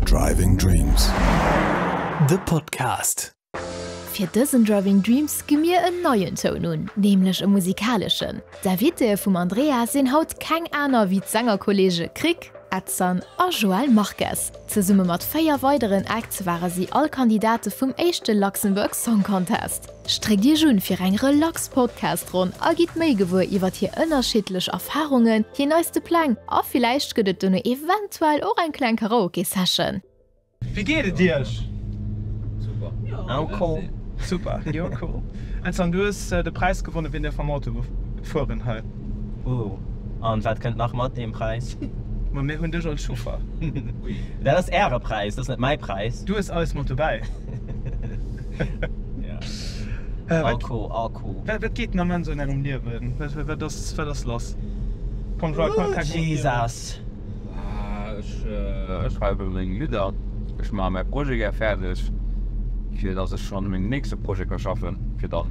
Driving Dreams, de Podcast. Fir dësen Driving Dreams gi mir en neien Toun un, nämlech e musikaleschen. D'Invitée vum Andrea sinn haut keng aner wéi d'Sängerkolleege Krick, Edson a Joel Marques. Zesumme mat véier weideren Acts ware si all Kandidate vum éischte Luxembourg Song Contest. Stréckt Iech un fir eng relax Podcast-Ronn a gitt méi gewuer iwwert hir ënnerschiddlech Erfarungen, hir neiste Pläng a villäicht gëtt et dono eventuell och eng kleng Karaoke-Session. Wéi geet et Iech? Super, jo cool. Vincent, du hues de Präis gewonnen, wéi dir vum Auto gefueren hei. Ooh, an wat kënnt nach mat deem Präis? Ma mir hunn dech als Chauffer. Dat ass äre Präis, dat ass net mäi Präis. Du hues eis mat dobäi. Wat geet den Ament sou an engem Liewen? Wat ass lass? Ech schreiwe meng Lidder, ech maache mäi Projet gär fäerdeg, fir datt ech schonn u mengem nächste Projet ka schaffen fir dann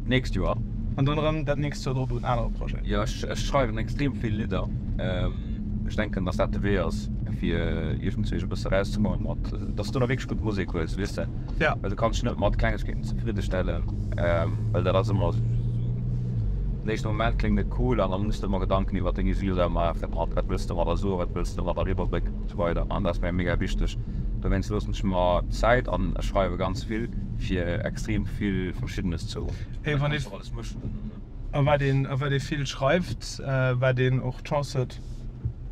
d'nächst Joer. An dann erëm dat nächst Joer drop un anere Projeten. Jo, ech schreiwen extrem vill Lidder. Ech denken, datt dat de Wee ass, fir iergendwéi sech e bësse erauszemoien mat. dass du do nach wierklech gutt Musek hues, weess de, well du kanns dech net mat Klengegkeeten zefridde stellen, well dat ass ëmmer esou, den éischte Moment kléngt et cool an da muss de ëmmer Gedanken iwwert deng User maachen, wat wëlls de domadder soen, wat wëlls de domadder eriwwerbréngen an esou weider an dat ass mir mega wichteg. Dowéinst loossen ech mer Zäit an ech schreiwe ganz vill fir extrem vill Verschiddenes zou, well et kann een och alles mëschen an esou. A wat ee vill schreift, wat een och d'Chance huet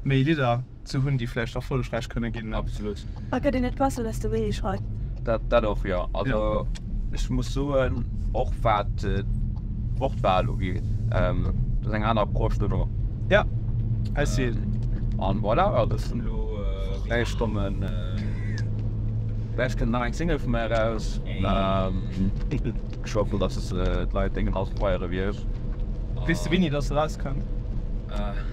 méi Lidder. ze hunn, déi vläicht erfollegräich kënne ginn. Absolut. A gëtt een net besser desto méi ee schreift? Dat, dat och, jo. Also ech muss soen, och wat d'Wortwahl ugeet, dat ass eng aner Approche dono. Ja, I see. An voilà, jo, dat sinn elo dräi Stonnen. Vläicht kënnt nach eng Single vu mär eraus. Ech hoffen, dass d'Leit deen Inhalt feiere wier. Weess de wéini dass se erauskënnt?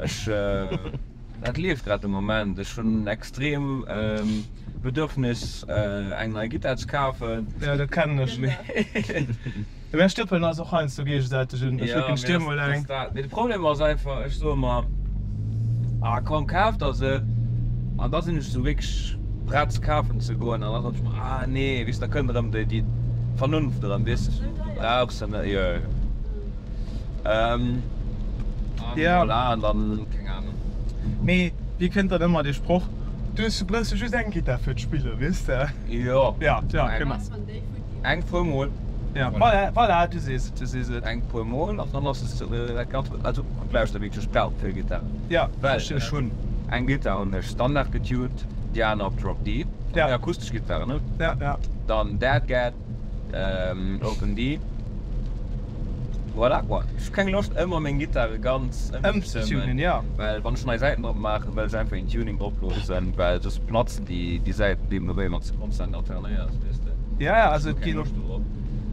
Ech, dat leeft grad de Moment. Ech hunn en extrem Bedürfnis eng nei Gittar ze kafen. Jo, dat kennen ech. Mee mäi Stëppelen ass och heiansdo géigesäiteg un. Ech flécken d'Stier mol eng. Mee de Problem ass einfach, ech soe mer, ah komm kaf der se. An da sinn ech esou wierklech prett se kafen ze goen. An da soen ech mer, ah nee, weess da kënnt erëm déi Vernunft erëm, weess de, du brauchs se net. Ähm, an yeah. voilà, an dann, keng Ahnung. Mee, wéi kënnt dann ëmmer dee Sproch, Du hues zu Bréissel just eng Gittar fir d'Spillen, weess de? Jo. Ja, ja, genau. Eng puer Mol. Ja, voilà, voilà, du sees et, du sees et. Eng puer Mol, an dann ass et dat Ganzt, also, ech lauschter wierklech bal keng Gittar. Ja, verstinn ech. Ech hunn eng Gittar, hunn ech standard getuned, déi aner op Drop D, eng akustesch Gittar, ne? Ja, ja. Dann Dad Gad. Ähm, open D. Voilà, quoi. Ech hu keng Loscht, ëmmer meng Gittare ganz ëmzetunen, ja. Well, wann ech nei Säiten drop maachen, wëll ech einfach een Tuning droplosen, well soss platzen déi Säiten deem no, wéi wann se konstant alternéiers, weess de. Ja, ja, also déi. Ech hu keng Loscht dorop.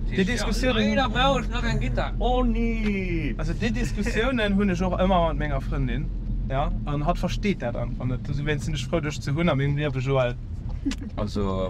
Déi Diskussiounen. Leider brauch ech nach eng Gittar. Oh, nee! Also déi Diskussiounen hunn ech och ëmmer mat menger Frëndin, ja. An hatt versteet dat einfach net. Dowéinst sinn ech frou, dech ze hunn a mengem Liewe, Joël. Also.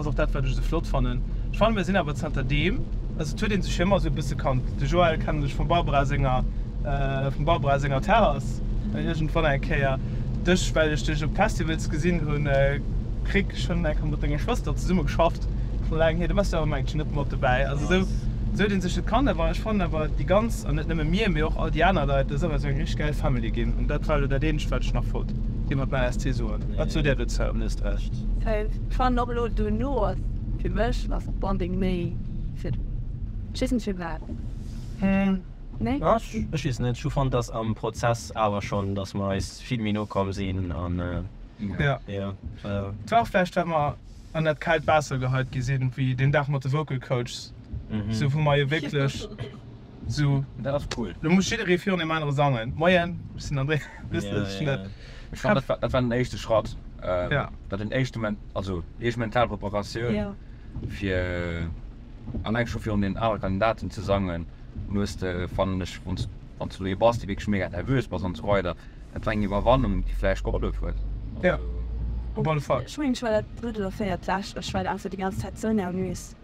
Ass och dat wat ech esou flott fannen. Ech fannen mir sinn awer zanter deem, also et huet een sech jo ëmmer esou e bësse kannt. De Joël kennen ech vum Barbara senger, vum Barbara senger Terrass iergendwann eng Kéier. Dech well ech dech op Festivals gesinn hunn, Krick ech hunn eng Kéier mat denger Schwëster zesumme geschafft scho laang hier. Du wars jo awer mengt ech net mat dobäi. Also esou esou huet een sech et kannt. Awer ech fannen awer déi ganz, an net nëmme mir, mee och all déi aner Leit, dat ass awer esou eng richteg gäil Family ginn. An dat war elo dat eenzegt wat ech nach wollt dir mat meiner ST soen. Wat sot där dozou? Fan och lo duerno ass fir mech ass Bonding méi fir ech weess net firwat nee ech weess net ech hu fannt dass am Prozess awer schonn dass mer eis vill méi no komm sinn an jo jo war och vläicht well mer an dat kaalt Waasser geheit gi sinn wéi deen Dag mat de Vocal Coachs sou wou mer jo wierklech Sou, dat ass cool. Lo muss jidderee virun deem anere sangen. Moien, ech sinn André. Wësst Dir, ech sinn dat. Ech fannen, dat war den éischte Schratt. Dat den éischte, also éischt mental Preparatioun, fir alleng scho virun deenen anere Kandidaten ze sangen. An hues de, fannen ech, wann s du lo ee bass, dee wierklech mega nervös bass an esou weider, dat war eng Iwwerwannung, déi vläicht gehollef huet. Jo, op alle Fall. Ech mengen, ech war dat drëtt oder véiert d'lescht, ech war einfach déi ganz Zäit sou nervös.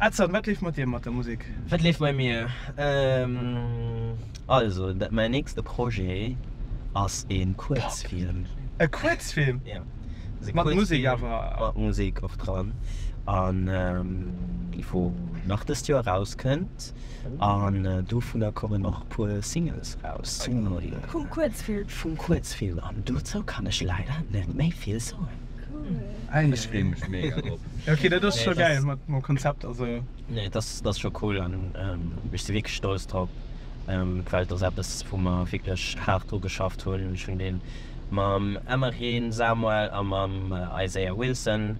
Edson, wat leeft mat dir mat der Musek? Wat leeft bei mir? Also, mäin nächste Projet ass e Kuerzfilm. E Kuerzfilm? Jo. Mat Musek awer? Mat Musek och dran. An wou nach dëst Joer erauskënnt. An dovunner kommen och e puer Singles eraus. Vum Kuerzfilm? Vum Kuerzfilm. An dozou kann ech leider net méi vill soen. Cool. Ech freen mech mega drop. Ok dat ass scho geil mat mam Konzept also. Nee dat ass scho cool an ech si wierklech stolz drop well et ass eppes wou mer wierklech haart dru geschafft hunn. Ech hunn dee mam Emmereen Samuel a mam Isaiah Wilson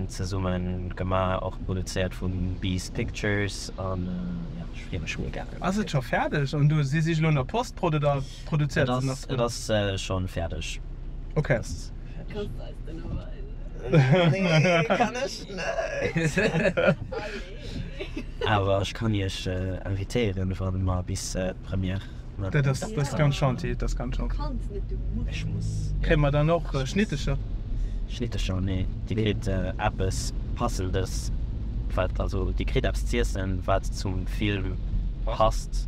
zesumme gemaach, och produzéiert vum Beast Pictures an jo ech free mech mega. Ass et scho fäerdeg an do si si elo an der Postprod oder produzéiert se nach? Et ass schonn fäerdeg. Ok. Kannst eis den o weisen? Nee, kann ech net. Allez. Awer ech kann iech invitéieren wann mer bis d'Première mat. Dat ass dat ass ganz gentil, dat ass ganz gentil. Du kanns net, du muss. Ech muss. Kréie mer dann och Schnittecher? Schnittecher? Nee, dir kritt eppes passendes, wat also dir kritt eppes z'iessen wat zum Film passt.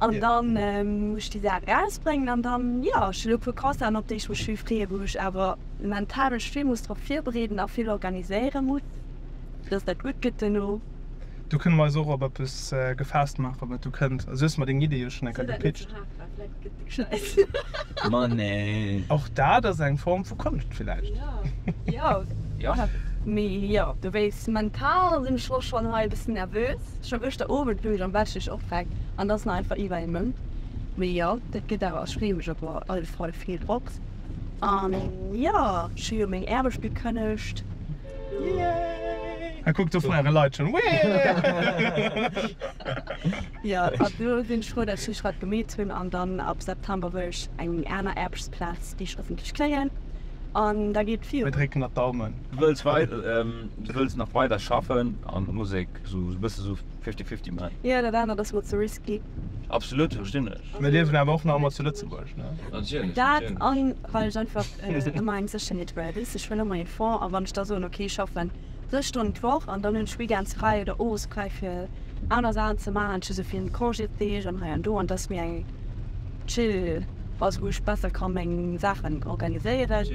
An dann muss ech déi Saachen erausbréngen an dann, jo, ech hunn elo e puer Concerten, op déi ech mech vill freeë, wou ech awer mental mech vill muss drop virbereeden a vill organiséiere muss, fir datt dat gutt gëtt duerno. Do kënne mer eis och op eppes gefaasst maachen, wat do kënnt. Also, du hues mer deng Iddie jo schonn eng Kéier gepitcht. Ma nee. Och dat ass eng Form vu Konscht villäicht. Jo, jo. Mee jo, du weess, mental sinn ech och schonn hei e bëssen nervös. Scho gëschter Owend luch ech am Bett, stéch op, weg an da sinn einfach iwwer ee Mount. Mee jo, dat gëtt awer. Ech freeë mech op alle Fall vill drop. An jo, ech hu jo meng Aarbecht gekënnegt. Yay! A kuck, do feiere Leit schonn. Wee! Jo, an do hunn ech froh, datt ech dat gemeet hunn an dann ab September wëll ech eng aner Aarbechtsplaz, déi ech hoffentlech kréien an da geet et Mir virun. drécken der d'Daumen. Du wëlls wei, du wëlls nach weider schaffen an der Musek, sou e bësse sou fifty fifty man? Jo, dat anert ass mer ze risky. Absolut, verstinn ech. Mir liewen awer och nach emol zu Lëtzebuerg, ne? Natierlech, Dat natierlech. an well ech einfach ëmmer eng Sécherheet wëll. Weess de, ech wëll ëmmer ee Fond a wann ech da soen, okay, ech schaffen. Sech Stonnen d'Woch an dann hunn ech weekends fräi oder owes fräi fir aner Saachen ze maachen. Ech hu sou vill Congésdeeg an hei an do an et ass méi eng chill Phas, wou ech besser ka meng Saachen organiséieren.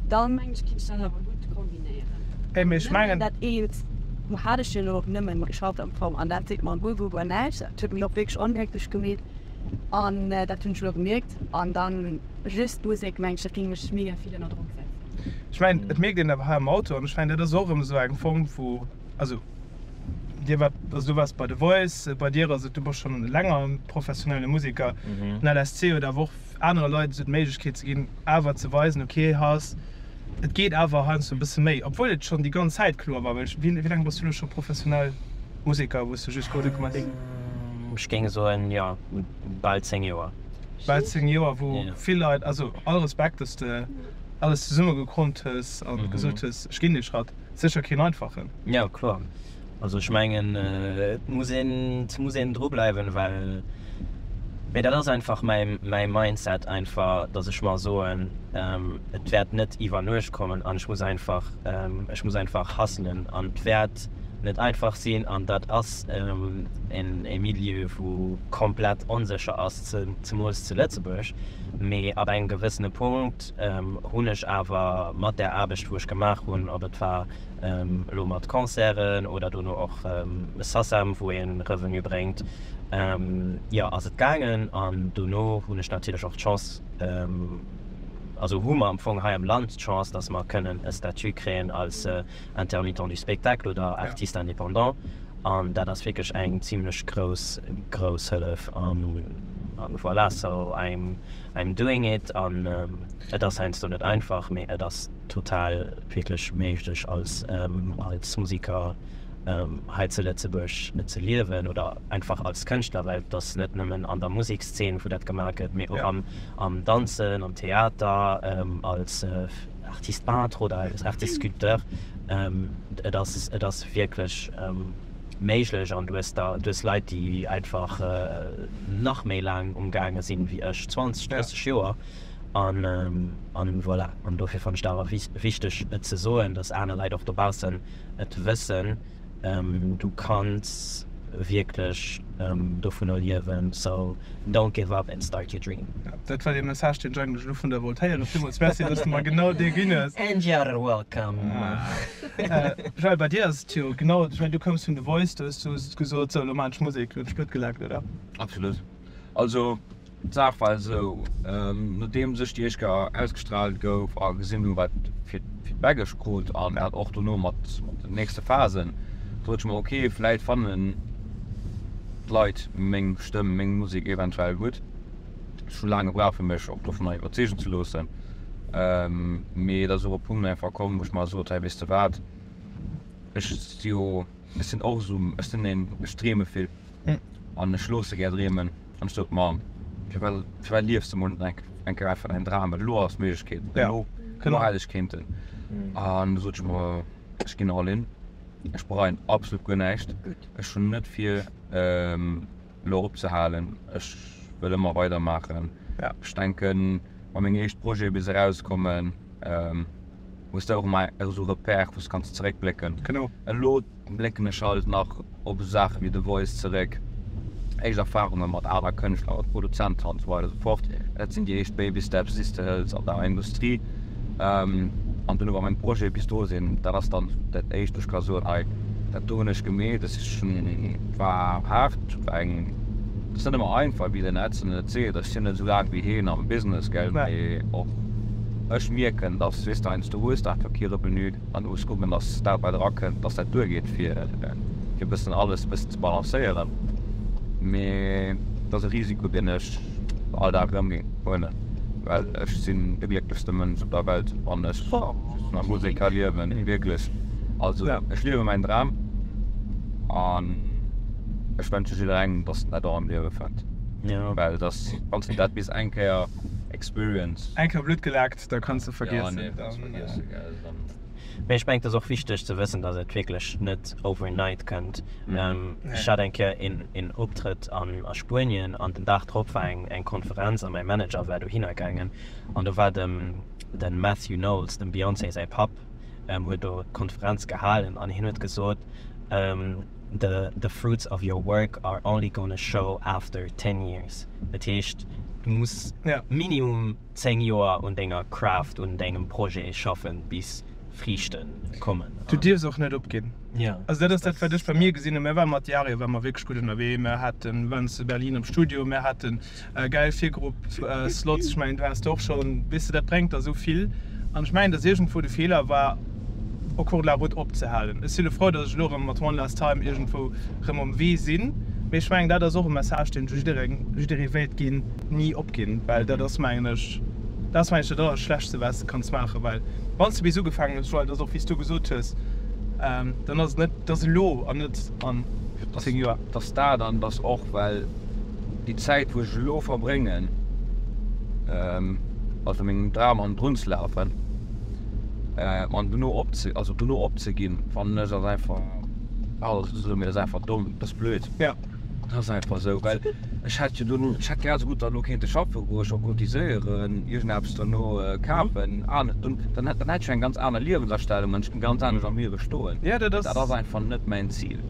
Dann mengen ech, kéint ech dat awer gutt kombinéieren. Nëmmen dat eent, do hat ech jo elo och nëmmen geschafft am Fong an dat seet mer guer, guer, guer näischt. Dat huet mech och wierklech onglécklech gemeet an dat hunn ech elo gemierkt an dann, Just d'Musek mengt ech, et géing mech mega vill ënner Drock setzen. Ech mengen, et mierkt een awer hei am Auto, an ech mengen, dat ass och erëm esou eng Form vu, also dir waart, also du waars bei The Voice, bei dir ass et, du bass schonn länger professionelle Museker, den LSC huet awer och anere Leit esou d'Méiglechkeet ze ginn, awer ze weisen, ok, heiass, et geet awer heiansdo e bësse méi, obwuel et schonn déi ganz Zäit kloer war, well ech, wéi laang bass du elo scho professionell Museker, wou s du just Musek gemaach hues? Ech géing soen, jo, bal 10 Joer. bal 10 Joer wou vill Leit, also all Respekt dass de alles zesumme gekrommt hues a gesot hues ech ginn dee Schratt, sécher keen einfachen. Jo kloer, also ech mengen et muss een, et muss een dru bleiwen, well mee dat ass einfach mäi Mindset einfach, dass ech mer soen et wäert net iwwer Nuecht kommen an ech muss einfach, ech muss einfach hustlen an et wäert, net einfach sinn an dat ass e Milieu wou komplett onsécher ass, zemools zu Lëtzebuerg. Mee ab engem gewëssene Punkt hunn ech awer mat där Aarbecht wou ech gemaach hunn, ob et war elo mat Concerten oder dono och Sassam wou ee Revenu bréngt, jo ass et gaangen an dono hunn ech natierlech och d'Chance, also hu mer am Fong hei am Land d'Chance, datt mer kënnen e Statut kréien als Intermittent du spectacle oder Artiste indépendant, an dat ass wierklech eng zimlech grouss, grouss Hëllef. A voilà, so I'm, I'm doing it an et ass heiansdo net einfach, mee et ass total wierklech méiglech als, als Museker hei zu Lëtzebuerg ze liewen oder einfach als Kënschtler, well et ass net nëmmen an der Musekszeen, wou dat gemaach gëtt, mee och am, am Danzen, am Theater, als. Artiste peintre oder als Artiste sculpteur, et ass, et ass wierklech méiglech an du hues da, du hues Leit, déi einfach nach méi laang um gaange sinn ewéi ech, 20, 30 Joer an voilà. An dofir fannen ech dat awer wichteg et ze soen, dass aner Leit och dobaussen et wëssen. Du kanns wierklech dovunner liewen, so don't give up and start your dream. Dat war dee Message deen ech eigentlech elo vun der wollt héieren. Villmools Merci dass du mer genau dee ginn hues. And you're welcome. Joël bei dir ass et jo genau, ech mengen du koums vun The Voice, do hues du gesot, sou elo maan ech Musek, hunn ech blöd gelaakt oder? Absolut. Also d'Saach war esou, nodeems ech déi éischt Kéier ausgestraalt gouf a gesinn hunn, wat fir d'Feedback ech krut an dat och dono mat den nächste Phasen, sot ech mer, okay, vläit fannen d'Leit meng Stëmm, meng Musek eventuell gutt. Ech hu laang gebraucht, fir mech och dovunner iwwerzeegen ze loossen, mee et ass och e Punkt einfach komm, wou ech mer sot, Hey, weess de wat, ech si jo, ech sinn och esou, ech sinn een, ech dreeme vill. an ech loosse gär dreemen. An ech sot, Ma firwat, firwat liefs de mol net eng Kéier einfach däin Dram, elo ass d'Méiglechkeet, elo, elo hätt ech kéinten. An du sot ech mer, ech ginn all in, ech bereien absolut guer näischt, ech hunn net vir elo opzehalen, ech wëll ëmmer weider maachen. Ech denken, wa meng éischt Projete bis erauskommen, hues de och emmer esou Repère wous de kanns zeréckblécken. Genau. Elo blécken ech halt nach op esou Saachen wéi The Voice zeréck, éischt Erfahrungen mat aner Kënschtler oder Produzenten an esou weider esou fort. Dat sinn déi éischt Baby Steps déi s de hëls an der Industrie. An dunn awer meng Projete bis do sinn, dat ass dann dat éischt wou ech ka soen, hei dat do hunn ech gemeet, dat si schon, war haart, war eng, dat ass net ëmmer einfach, wéi den Edson et seet, ech sinn net esou laang wéi heen am Business, gell, mee och. Ech mierken, datt Swissdines do hues nach kee Revenu an ech kucken, datt dat bei dra kënnt, datt dat duergeet, fir e bëssen alles e bëssen ze balancéieren. Mee et ass e Risiko, deen ech all Dag erëm huelen, well ech sinn de glécklechste Mënsch op der Welt, wann ech just mam Musek liewen, wierklech. Also ech liewe mäin Dram an ech wënsche jidderengem, datt en dat och am Liewe fënnt, well wann en dat bis eng Kéier. Experience. Eng Kéier Blutt gelaakt, da kanns de vergiessen. Mee ech mengen et ass och wichteg ze wëssen dass et wierklech net overnight kënnt. Ech hat eng Kéier een Optrëtt a Spuenien an den Dag drop war eng Konferenz a mäi Manager war dohinner gaangen an do war de Matthew Knowles, dem Beyoncé säi Papp, huet do d'Konferenz gehalen an hien huet gesot, the fruits of your work are only gonna show after ten years. Dat heescht, du muss minimum 10 Joer un denger Craft, un dengem Projet schaffen, bis Friichte kommen. Du dierfs och net opginn. Also dat ass dat, wat ech bei mir gesinn hunn. Mir waren mat Diario ware mer wierklech gutt ënnerwee. Mir waren zu Berlin am Studio, mir haten Gäil Virgrupp Slots, ech mengen du haas de och schon, wees de dat brengt der esou vill an ech mengen dass irgendwou de Fehler war au cours de la route opzehalen. Ech si lo frou dass ech lo rem mat one last time irgendwou rem um Wee sin mee ech mengen dat ass och e Message deen ech jideree wéilt gin, nie opgin well dat ass mengen ech dat ass mengen ech dat allerschlechtste waats de kanns maachen well wanns de bis ugefaangen hues well dat ass och wéis du gesoot hues dann ass et net dass elo an net an 10 Joer. Dass dat an dass och well. Déi Zäit wou ech elo verbréngen also mengem Dram an d'Runn ze lafen an dono opze also dono opzeginn fannen ech ass einfach also ech soe mir ass einfach domm, ass blöd. Ja. Ass einfach esou, well ech hätt jo dono, ech hätt grad esou gutt derno kéinte schaffe goen, ech och cotiséieren, iergendeppes derno kafen, aner dunn, dann hätt dann hätt ech jo eng ganz aner Liewensastellung an ech géing ganz anescht am Liewe stoen. Ja dat ass. Dat ass einfach net mäin Zil.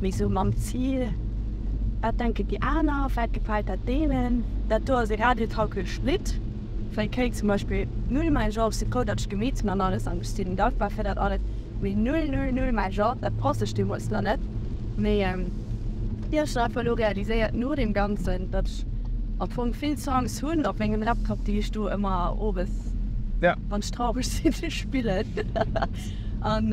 Mee sou mam Zil, wat denken déi aner, wat gefält dat deenen? Dat do ass e radiotauglecht Lidd, vläicht kréien zum Beispill null Mäin Genre si Pouderdeg Gemeten an alles an ech sinn dankbar fir dat alles, mee null, null, null Mäin Genre, dat pass ech deemools nach net. Mee ech hunn einfach elo realiséiert no deem Ganzen, datt ech am Fong vill Songs hunn op mengem Laptop, déi ech do ëmmer owes, wann ech traureg sinn, spillen. An.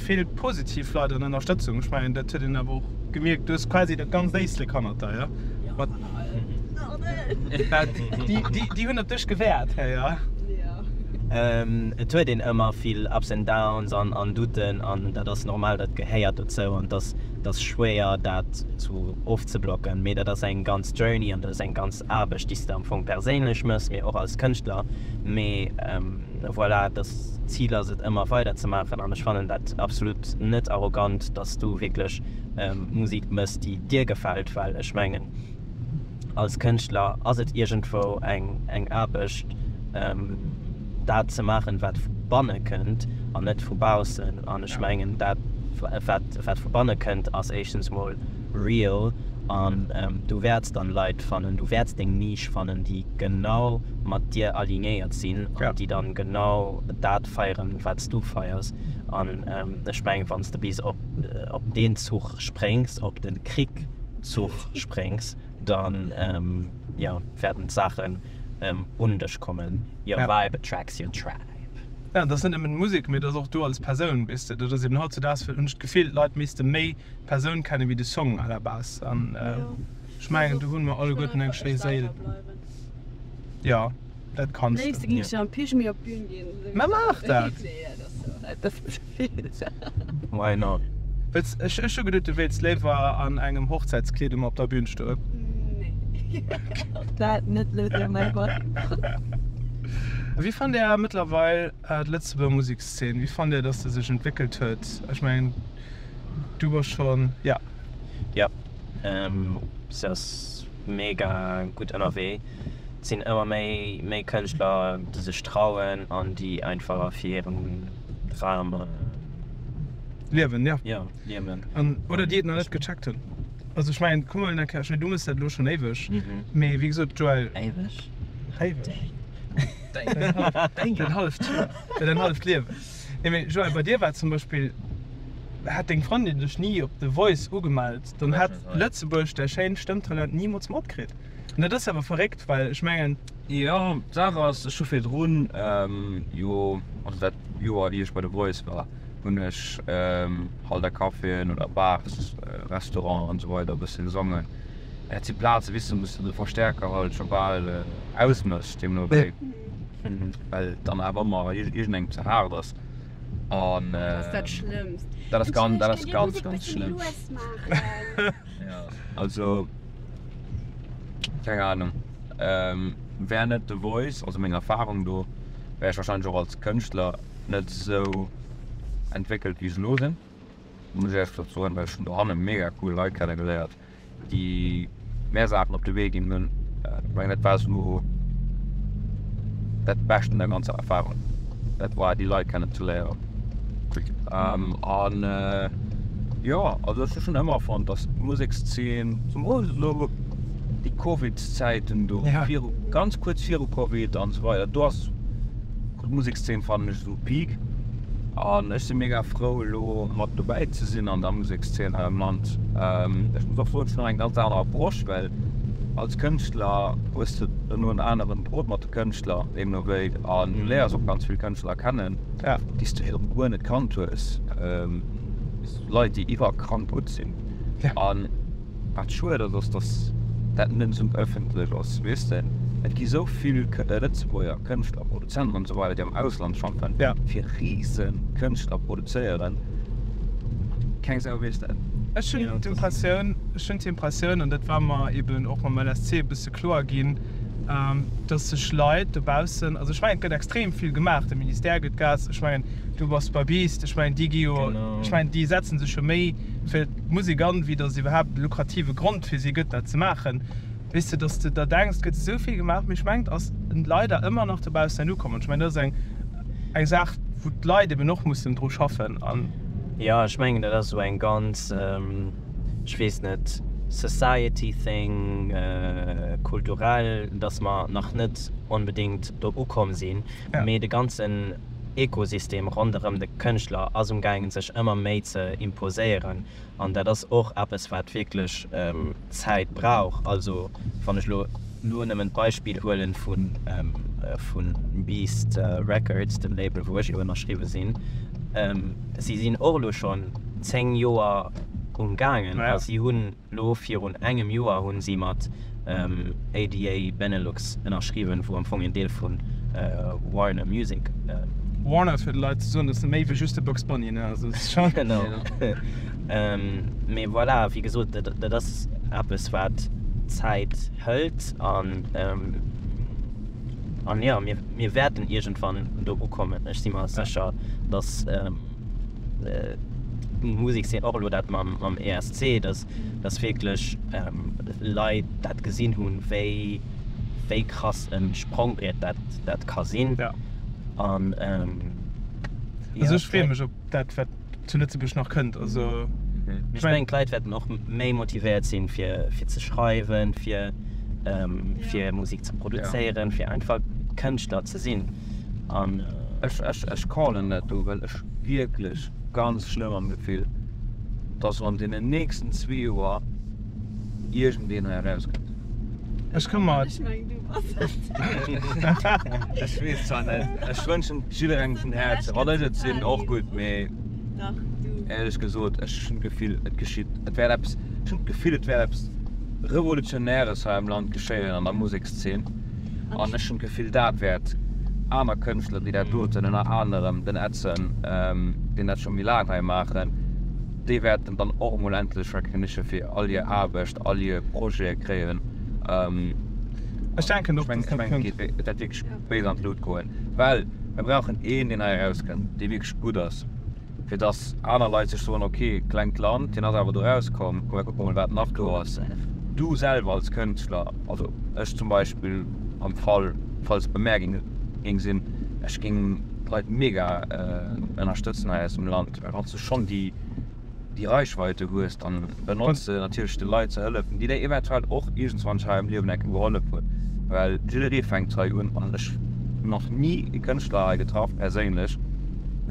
Vill positiv Leit an Ënnerstëtzung. Ech mengen dat huet een awer och gemierkt. Du hues quasi dat ganzt Éislek hannert der, jo? Jo, mat all den. Déi hunn op dech gewäert hei, jo? Jo. Et huet een ëmmer vill Ups and Downs an Douten an dat ass normal, dat gehéiert dozou an et ass schwéier dat zu ofzeblocken. Mee dat ass eng ganz Journey an dat ass eng ganz Aarbecht, déi s de am Fong perséinlech méchs, mee och als Kënschtler. Mee. Voilà, das Ziel ass et ëmmer weider ze maachen an ech fannen dat absolut net arrogant, dass du wierklech Musik mëss déi dir gefält, well ech mengen als Kënschtler ass et iergendwou eng Aarbecht dat ze maachen wat vu banne kënnt an net vu baussen an ech mengen dat wat vu banne kënnt ass éischtens mol real an du wäerts dann Leit fannen, du wäerts deng Niche fannen, déi genau mat dir alignéiert sinn an déi dann genau dat feieren, wat s du feiers. An ech mengen, wann s de bis op op deen Zuch spréngs, op de Krick-Zuch spréngs, dann, jo, wäerten d'Saachen un dech kommen. Your vibe attracts your tribe. Jo, dat ass net nëmmen Musek, mee dat ass och du als Persoun, weess de. Dat ass eben hautzedaags, hunn ech d'Gefill, d'Leit misste méi Persoun kennen wéi de Song à la base an ech mengen do hunn mer alleguerten eng schéi Séil. Jo dat kanns de. Mä maach dat! Why not? Wëlls, ech hu geduet du wéilts léiwer an engem Hochzäitskleed ëmmer op der Bühn stoen. Wéi fannt Där mëttlerweil D'Lëtzebuerger Musekszeen, wéi fannt Dir, dass se sech entwéckelt huet? Ech mengen, du bass schonn, jo. Jo, se ass mega gutt ënnerwee. Et sinn ëmmer méi, méi Kënschtler, déi sech trauen an déi einfach fir hiren Dram liewen. Jo, jo, liewen. Oder déi et nach net gecheckt hunn. Also ech mengen, komm elo eng Kéier, du méchs dat elo schonn éiweg, mee wéi gesot, Joël. Éiweg? Éiweg. Däin halleft Joer, jo däin halleft Liewen. Nee mee Joël, bei dir war zum Beispill, hätt deng Frëndin dech ni op The Voice ugemellt, dann hätt Lëtzebuerg däi schéint Stëmmtalent nimools matkritt. An dat ass awer verréckt, well ech mengen. Jo, d'Saach ass, ech hu virdrun jo, also dat Joer wéi ech bei The Voice war, hunn ech halt a Caféen oder Bars, Restauranten an esou weider e bësse gesongen. Dat si Plazen, weess de, wou s de de Verstäerker halt scho bal ausmëss. Deemno wéi well dann awer ëmmer iergendengem ze haart ass an Dat ass dat Schlëmmst. dat ass ganz dat ass ganz ganz schlëmm. Also keng Ahnung, wär net The Voice, also meng Erfarung do, wär ech wahrscheinlech och als Kënschtler net esou entwéckelt wéi ech elo sinn, muss ech Äerglech soen, well ech hunn dohanne mega cool Leit kennegeléiert, déi mär Saachen op de Wee ginn hunn. Ech mengen, dat war esou dat Bescht un der ganzer Erfahrung, dat war déi Leit kennen ze léieren. An jo, also ech hu schonn ëmmer fonnt, datt d'Musekszeen, zemools elo déi Covid-Zäiten do, viru, ganz kuerz viru Covid an esou weider, do ass d'Musekszeen, fannen ech, zu Peak an ech sinn mega frou elo mat dobäi ze sinn an der Musekszeen hei am Land. Ech muss och soen, et ass nach eng ganz aner Approche, well als Kënschtler hues de elo en aneren Drot mat de Kënschtler deemno wéi, an du léiers och ganz vill Kënschtler kennen, déi s de virdrun guer net kannt hues, Leit déi iwwerkrank gutt sinn. Wat schued ass, ass dass dat net esou ëffentlech ass, weess de. Et gi sou vill Lëtzebuerger Kënschtler, Produzenten an esou weider déi am Ausland schaffen, fir rise Kënschtler produzéieren, keng Sau weess dat. Ech hunn d'Impressioun, ech hunn d'Impressioun, an dat war mer eben och mam LSC e bësse kloer ginn, dass sech Leit dobaussen, also ech mengen et gëtt extrem vill gemaach, de Ministère gëtt Gas, ech mengen du bass Babist, ech mengen déi gi jo, ech mengen déi setze sech jo méi. fir d'Musek an, wéi dass et iwwerhaapt e lukrative Grond fir si gëtt dat ze maachen. Weess de, dass de der denks, et gëtt esou vill gemaach, mee ech mengen et ass leider ëmmer nach dobaussen net ukomm an ech mengen dat ass eng Saach wou d'Leit eben och mussen dru schaffen an. Jo ech mengen dat ass esou eng ganz, ech weess net, society thing, kulturell, dass mer nach net onbedéngt do ukomm sinn, mee de ganzen, Ekosystem ronderëm de Kënschtler ass umgaangen, sech ëmmer méi ze imposéieren. An dat ass och eppes, wat wierklech Zäit brauch. Also wann ech elo elo nëmmen d'Beispill huelen vu vu Beast Records, dem Label, wou ech jo ënnerschriwwe sinn. Si sinn och elo schonn zéng Joer umgaangen a si hunn. Lo virun engem Joer hunn si mat ADA Benelux ënnerschriwwen, wou am Fong een Deel vun Warner Music ass. Warner, fir de Leit ze soen, dass e méi wéi just de Bugs Bunny, ne? Also se schaffen. Genau. Mee voilà, wéi gesot, dat ass eppes wat Zäit hëlt an an jo, mir wäerten iergendwann do ukommen. Ech si mer sécher, dass. D'Musek sinn och elo dat mam ESC, datt wierklech Leit dat gesinn hunn, wéi krass e Sprongbriet dat ka sinn. Also ech freeë mech op dat, wat zu Lëtzebuerg nach kënnt. Ech mengen, d'Leit wäerten och méi motivéiert sinn, fir ze schreiwen, fir Musek ze produzéieren, fir einfach Kënschtler ze sinn. an ech ech ech callen dat do well ech wierklech ganz schlëmm am Gefill dass an deenen nächsten zwee Joer iergendeen hei erauskënnt. Ech komme mat. Ech meng du bass et. Ech weess zwar net, ech wënschen et jidderengem vun Häerzen, wann ech et sinn och gutt, mee éierlech gesot ech hunn d'Gefill et geschitt, et wäert eppes, ech hunn d'Gefill et wäert eppes Revolutionäres hei am Land geschéien an der Musekszeen. An ech hunn d'Gefill, dat wäert aner Kënschtler, déi dat doten, ënner anerem den Edson, deen dat scho méi laang hei maachen, déi wäerten dann och emol endlech Recognition fir all hir Aarbecht, all hir Projete kréien. Ech mengen, et wäert wierklech béis an d'Lut goen, well mir brauchen een, deen hei erauskënnt, dee wierklech gutt ass. fir dass aner Leit sech soen, ok, klengt Land, hien ass awer do rauskomm, komm mir kucke mol wat nach do ass. Du selwer als Kënschtler, also ech zum Beispill am Fall falls et bemerkt géing sinn, ech géing d'Leit mega ënnerstëtzen hei aus dem Land, well wanns du schonn déi Reichweite hues, dann benotz se natierlech de Leit ze hëllefen, déi dir eventuell och iergendwann hei am Liewen eng Kéier gehollef hunn, well jidderee fänkt hei un an ech hunn nach ni e Kënschtler hei getraff perséinlech,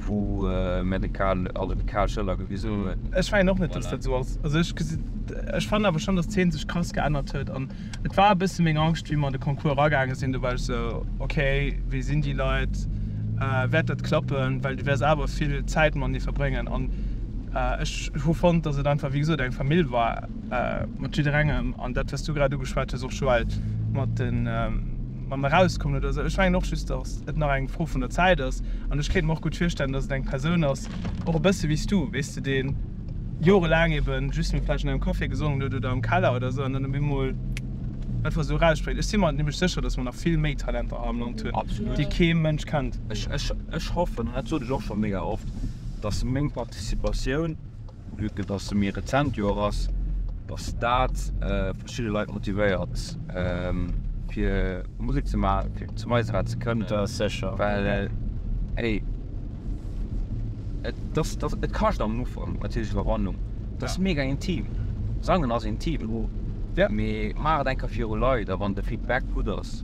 wou mär de Karl, also de Karl Schëller gewisen hunn. Ech mengen och net, dass dat esou ass. Also ech gesi, ech fannen awer schonn, dass d'Zeen sech krass geännert huet an et war e bësse meng Angscht, wéi mer an de Concours eragaange sinn, do war ech esou, okay, wie sinn déi Leit, wäert dat klappen, well du wäers awer vill Zäit matenee verbréngen an ech hu fonnt, dass et einfach, wéi gesot, eng Famill war mat jidderengem an dat, wat s du grad ugeschwat hues, och Joël, mat de. mam Erauskommen oder esou. Ech mengen och just, datt et nach eng Fro vun der Zäit ass. An ech kéint mer och gutt virstellen, datt et eng Persoun ass, och e bësse wéi s du, weess de, dee jorelaang ebe just méi vläicht an engem Café gesongen huet oder am Keller oder esou an dann op eemol einfach esou eraussprécht. Ech si mer nämlech sécher, datt mer nach vill méi Talenter hei am Land hunn, déi kee Mënsch kennt. Ech hoffen, an dat sot ech och scho mega oft, datt meng Participatioun, Vue que dass se méi rezent Joer ass, dass dat verschidde Leit motivéiert fir Musek ze maachen, fir zum Eiserath ze kënnen. Dat ass sécher. Well hey, et ass, et kascht am Ufank natierlech Iwwerwannung. Et ass mega intim. Sangen ass intim. Mee maach et eng Kéier viru Leit a wann de Feedback gutt ass,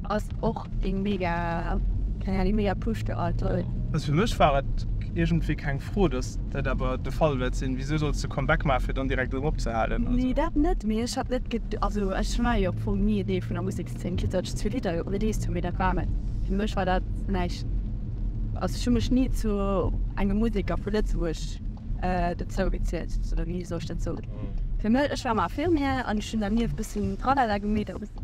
Ass och een mega geniale mega push de all toll. Also fir mech war et iergendwéi keng Fro, dass dat awer de Fall wäert sinn. Wisou solls de Comeback maachen, fir dann direkt erëm opzehalen? Also. Nee dat net, mee ech hat net ged, also ech war jo am Fong ni en Deel vun der Musekszeen, quitte datt ech zwee Lidder jo released hunn, mee dat war net, fir mech war dat näischt. Also ech hu mech ni zu engem Museker vu Lëtzebuerg dozou gezielt, oder wéi soll ech dat soen? Fir mech, ech war am Affirm'er an ech hunn dernieft e bëssen Tralala gemeet,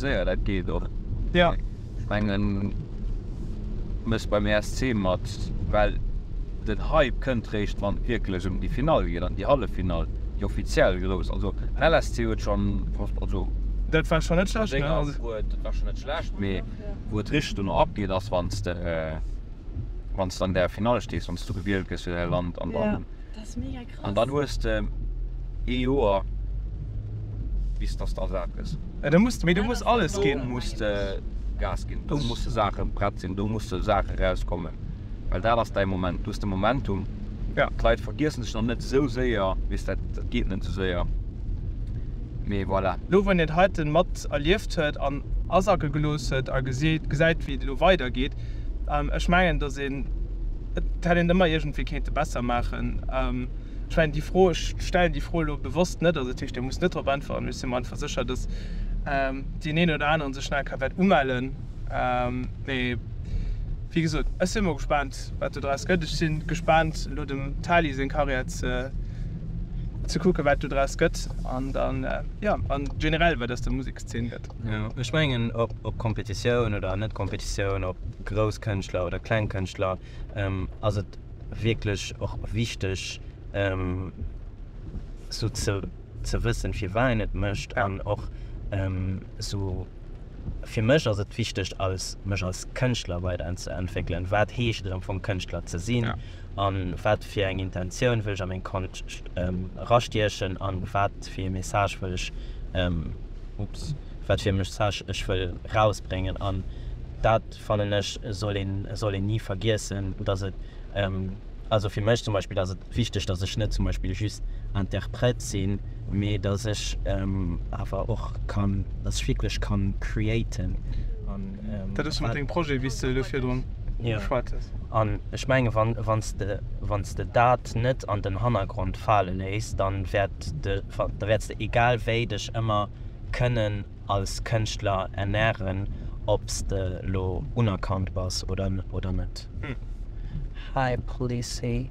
Séier, dat geet och. Ech mengen, du méchs beim ESC mat, well den Hype kënnt réischt, wann et wierklech ëm déi Finall geet an déi Halleffinall, déi offiziell grouss. Also den LSC huet schonn, also mat senger Antwuert, dat war schonn net schlecht, mee wou et richteg duerno abgeet, ass wann s de, wann s de an där Finall stees, wann s du gewielt gëss fir däi Land an dann. An dann hues de ee Joer bis dass de ersat gëss. Mee du muss Mä dat ass alles do ginn. Do muss de Gas ginn, do musse Saache prett sinn, do musse Saache rauskommen, well dat ass däi Moment. Du hues de Momentum. Ja. D'Leit vergiessen dech nach net esou séier, wéi s dat. Dat geet net esou séier. Mee voilà. Elo wou een et heiten mat erlieft huet an asacke gelooss huet a gesäit wéi et elo weidergeet, An ech mengen, dass een, et hätt een ëmmer iergendwéi kéinte besser maachen. Ech mengen, déi Fro, ech stellen déi Fro elo bewosst net, also dat heescht, Dir musst net drop äntweren, mee ech si mer einfach sécher, dass deen een oder aneren sech nach eng Kéier wäert umellen. Mee wéi gesot, ech si mol gespaant, wat do draus gëtt. Ech si gespaant, elo dem Tali seng Karriär ze, ze kucken, wat do draus gëtt. An dann, jo, a generell, wat aus der Musekszeen gëtt. Ech mengen op Competitioun oder net Competitioun, op grouss Kënschtler oder kleng Kënschtler ass et wierklech och wichteg sou ze wëssen firwat een et mécht an och sou fir mech ass et wichteg als mech als Kënschtler weiderentzeentwéckelen. Wat heescht et am Fong Kënschtler ze sinn? A wat fir eng Intentioun wëll ech a meng Konscht erastiechen a wat fir ee Message wëll ech, ups, wat fir e Message ech wëll erausbréngen? An dat fannen ech soll een, soll een ni vergiessen, datt et, also fir mech zum Beispill ass et wichteg, datt ech net zum Beispill just Interpret sinn, mee datt ech awer och kann, datt ech wierklech kann createn. Dat ass jo mat dengem Projet, wéi s de elo virdrun geschwat hues. Jo. An ech menge wann s de dat net an den Hannergrond fale léiss, da wäerts de egal wéi dech ëmmer kënnen als Kënschtler ernären, ob s de lo unerkannt bass oder net. Hi Police.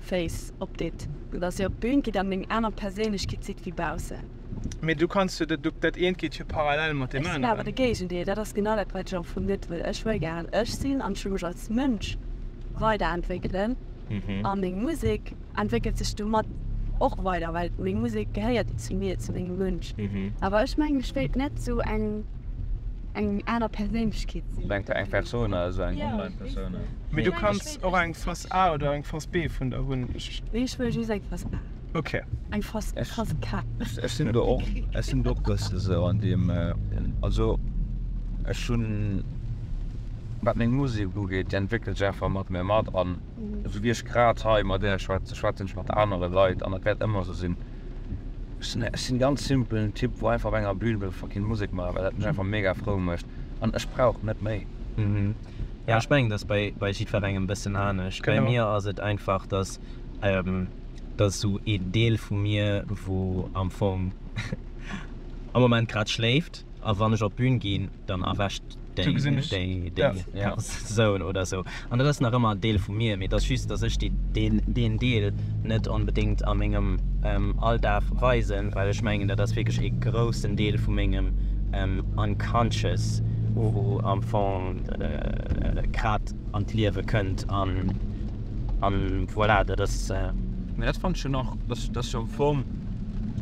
Face op dit, sou dass dir op d'Bühn gitt an eng aner Perséinlechkeet sidd wéi baussen. Mee du kanns jo, dat eent geet jo parallel mat deem aneren. Ech sinn awer de Géigendeel, dat ass genau dat wat ech am Fong net wëll. Ech wëll gären ech sinn an ech wëll mech als Mënsch weiderentwéckelen a meng Musek entwéckelt sech domat och weider, well meng Musek gehéiert zu mir, zu mengem Mënsch. Awer ech mengen ech wéilt net sou eng eng aner Perséinlechkeet sinn. Eng Persona, sou eng Online-Persona. Och eng Phas A oder eng Phas B vun der hunn ech. Nee ech huelen just eng Phas A. Ok. Eng Phas K. Ech sinn do och, ech sinn do och bësse sou an deem, also ech hunn, wat meng Musek ugeet, déi entwéckelt sech einfach mat mir mat an esou wéi ech grad hei mat Är schwätze, schwätzen ech mat anere Leit an dat wäert ëmmer esou sinn. Ech sinn, ech sinn e ganz simpelen Typ wou einfach op enger Bühn wëll fucking Musek maachen, well dat mech einfach mega frou mécht an ech brauch net méi. Ja, ech mengen, dat ass bei jiddwerengem e bëssen anescht. Bei mir ass et einfach, dass dat esou een Deel vu mir, wou am Fong am Moment grad schléift, a wann ech op d'Bün ginn, dann erwächt déi Persoun oder esou. An dat ass nach ëmmer en Deel vu mir, mee et ass just, dass ech deen Deel net onbedéngt a mengem Alldag weisen, well ech mengen, dat ass wierklech e groussen Deel vu mengem. conscious, wou am Fong grad an d'Liewe kënnt an an voilà, dat ass. Mä dat fannt ech jo nach, dass dass jo am Fong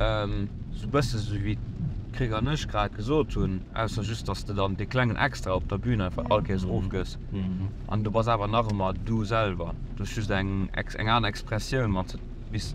sou e bësse sou wéi d'Krick an ech grad gesot hunn, ausser just dass de dann dee klengen Extra op der Bühn einfach all Kéiers erofgëss an du bass awer nach ëmmer du selwer, du hues just eng eng aner Expressioun mat, bis.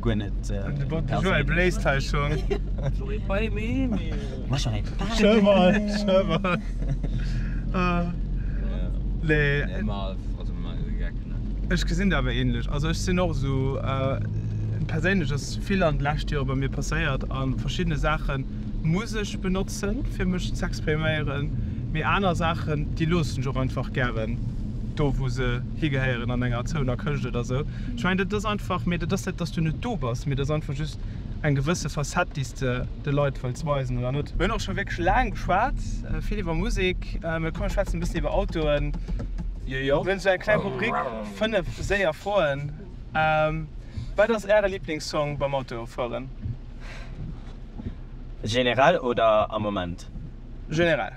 Guer net. De Joël bléist hei schon. J'aurais pas aimé mais. Moi j'aurais pas aimé. Schöll mol, schöll mol. Nee. Nee ma also ma Geck ne. Ech gesin der awer ähnlech. Also ech sin och esou perséinlech ass vill an de lescht Joere bei mir passéiert an verschiddene Saachen muss ech benotzen fir mech z'expriméieren mee aner Saachen déi loossen ech och einfach gären do wou se higehéieren an enger zouener Këscht oder sou. Ech mengen, dat ass einfach, mee dat ass net, datt s du net do bass, mee dat ass einfach just eng gewësse Facette, déi s de de Leit wëlls weisen, oder net? Mir hunn och scho wierklech laang geschwat, vill iwwer Musek, mee komm mir schwätzen e bëssen iwwer Autoen. Mir hunn esou eng kleng Rubrik, 5 séier Froen. Wat ass Äre Liblingssong beim Autofueren? Generell oder am Moment? Generell.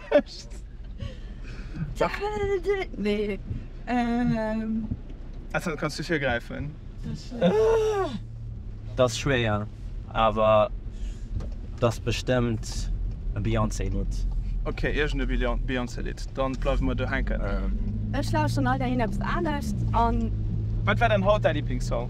Echt? Nee. Ähm. Ech hat kanns du vir gräifen. Dat ass schwéier, awer dat ass bestëmmt e Beyoncé Lidd. Ok, iergend e Beyoncé Lidd, dann bleiwe mer do hänken. Ech lauschteren all Dageen eppes anescht an. Wat war dann haut däi Liblingssong?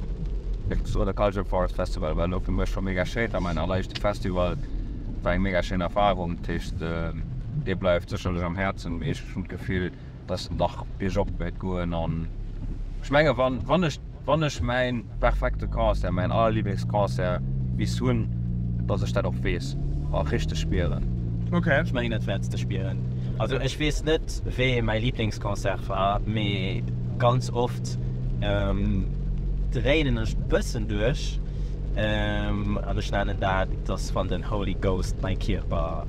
Sou de Culture Forest Festival war elo fir mech scho mega schéin, war mäin alleréischte Festival, war eng mega schéin Erfarung. Dat heescht, dee bleift sécherlech am Häerzen. Mee ech hunn d'Gefill, dass en dach biergop wäert goen. An ech menge wann, wann ech, wann ech mäin perfekte Concert, mäin Allerliblingsconcert bis hunn, dass ech dat och weess a richteg spieren. Ech mengen et wäerts de spieren. Also ech weess net wéi mäi Liblingsconcert war, mee ganz oft, Dréinen ech bëssen duerch an ech nennen dat dass wann den Holy Ghost mein Kierper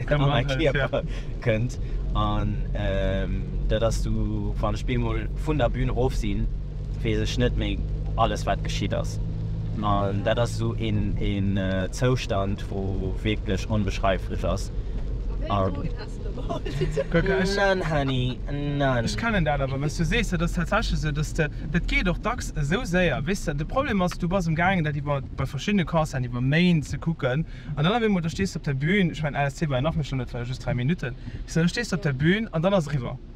an mein Kierper kënnt an dat ass du wann ech bemol vun der Bühn rof sinn weess ech net méi alles wat geschitt ass an dat ass esou een Zoustand wou wierklech onbeschreiflech ass. Nan Hany, nan. Ech kennen dat awer, wéi's du sees, dat ass tatsächlech esou, dass de, dat geet och dacks esou séier, weess de. De Problem ass, du bass am gaangen dat iwwer, bei verschiddene Concerten, iwwer Méint ze kucken an dann op eemol, da stees de op der Bühn, ech mengen LSC war jo nach méi schlëmm, dat war jo just 3 Minutten, weess de, da stees de op der Bühn an dann ass eriwwer.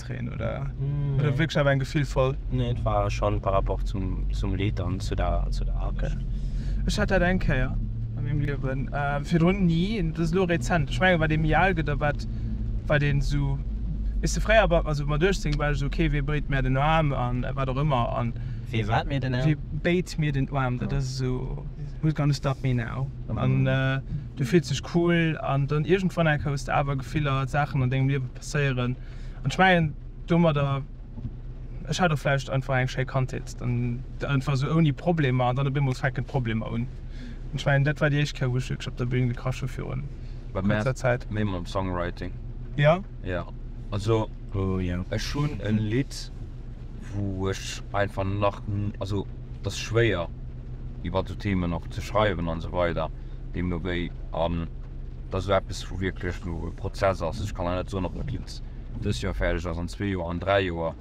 Tréin oder oder wierklech awer eng gefühlvoll? Nee, et war schon par rapport zum zum Lidd an zu der zu der Aarbecht. Okay. Ech hat dat eng Kéier a mengem Liewen, virdrun ni, dat ass elo rezent. Ech mengen wat ee méi al gëtt a wat wat een esou, weess de, fréier war, also mat 18 war ech esou, okay, wee béit mär den Aarm a wat och ëmmer an. Wee wat mir den Aarm? Wee béit mir den Aarm, dat ass esou, who's gonna stop me now? An du fills dech cool an dann iergendwann enke hues de awer Gefiller, Saachen an dengem Liewe passéieren, an ech mengen domadder, ech hat och vläicht einfach eng schéi Kandheet, dann einfach esou ouni Problemer an dann op eemol fänken d'Problemer un. An ech mengen dat war déi éischt Kéier wou ech wierklech op der Bühn gekrasch hu virun kuerzer Zäit. Méi mam Songwriting. Jo. Also ech hunn e Lidd wou ech einfach nach, also dat ass schwéier. iwwer esou Themen och ze schreiwen an esou weider deemno wéi an dass esou eppes wou wierklech elo e Prozess ass. Ech kann lech net soen ob dat Lidd dës Joer fäerdeg ass, an zwee Joer, an dräi Joer.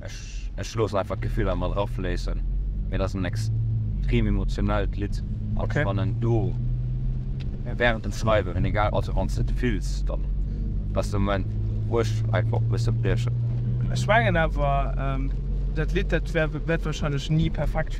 Ech ech loossen einfach d'Gefiller mat erafléissen, mee et ass en extrem emotionellt Lidd a wann en do während dem Schreiwen hunn egal also wann s de et fills dann ass de Moment wou ech einfach och musse briechen. Ech mengen awer dat Lidd dat wäert wahrscheinlech ni perfekt.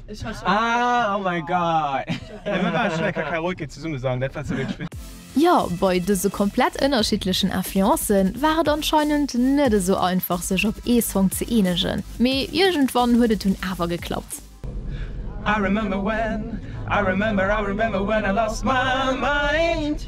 Ah oh my god! Ey mir waren schon eng Kakaroke zesumme sangen, dat war ze wéineg fir. Jo, bei dëse komplett ënnerschiddlechen Influencë war et anscheinend net esou einfach sech op ee Song ze eenegen, mee iergendwann huet et dunn awer geklappt. I remember when, I remember, I remember when I lost my mind.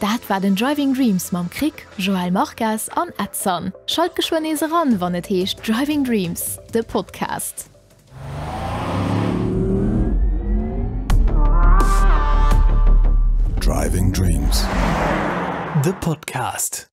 Dat war den Driving Dreams mam Krick, Joel Marques an Edson. Schalt geschwënn nees eran, wann et heescht Driving Dreams, de Podcast. Driving Dreams, de Podcast.